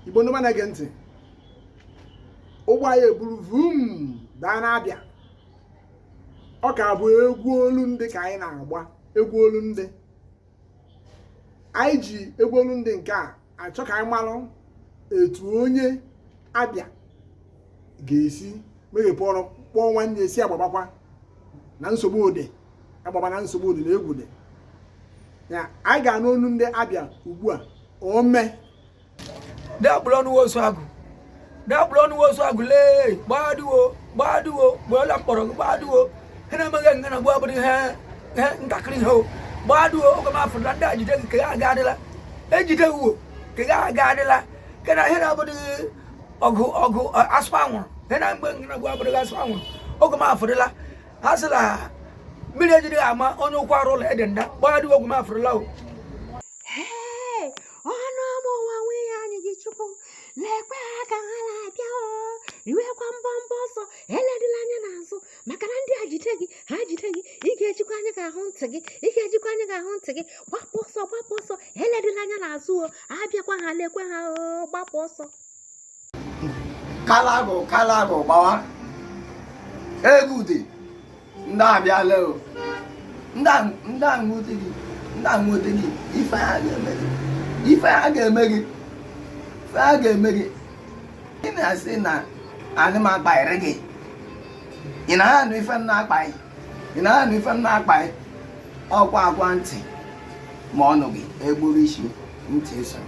igbo ndị ọma na-ege ntị ụgbọ anyị eburu vum daa n'abịa ọ ka bụ egwu olu ndị ka anyị na-agba egwu olu ndị anyị ji egwu olu ndị nke a achọ ka anyị malụ etu onye abịa ga-esi meghepụ ọnụ kpọọ nwanne sị agbabakwana nsogbu ụdị agbabana nsogbu ụdị na egwu dị ya anyị ga-anụ olu ndị abịa ugbu a ome dapụrụ ọnụ ozu agụ dapụrụ ọnụ ozu agụ lee gbaduo gbaduo gbuola mkpọrọ gị gbaduo ha na-emeghị nga na gbua bụrụ ihe ihe ntakịrị ihe o gbaduo oge m afụrụ na ndị a jide gị ka ya aga adịla ejide gị uwo ka ya aga adịla kena ihe na-abụdịghị ọgụ ọgụ asụ anwụrụ he na mgbe ngịnagwu abụrụghị asụ anwụrụ oge m afụrịla a sị na mmiri ejiri ama onye ụkwụ arụ ụlọ ede nda gbagharị ogwu m afụrịla o ọnụ ọma ụwa nwunye anyị ji chukwu lekwe ha ka ha na-abịa o riwekwa mbọmbọ ọsọ eledila anya n'azụ maka na ndị a jide gị ha jide gị ị ga-ejikwa anya gị ahụ ntị gị ị ga-ejikwa anya gị ahụ ntị gị gbapụ ọsọ gbapụ ọsọ eledila anya n'azụ o abịakwa ha lekwe ha o gbapụ ọsọ kalagụ kalagụ gbawa egwu dị ndị a abịala o ndị a nwude gị ndị a nwude gị ife ha ga-eme gị ife ha ga-eme gị ife ha ga-eme gị ị na-asị na anị m akpaịrị gị ị na ha anụ ife m na-akpa gị ị na-anụ ife m na-akpa ọkwa a gwa ntị ma ọ nụghị e gburu isi ntị esoro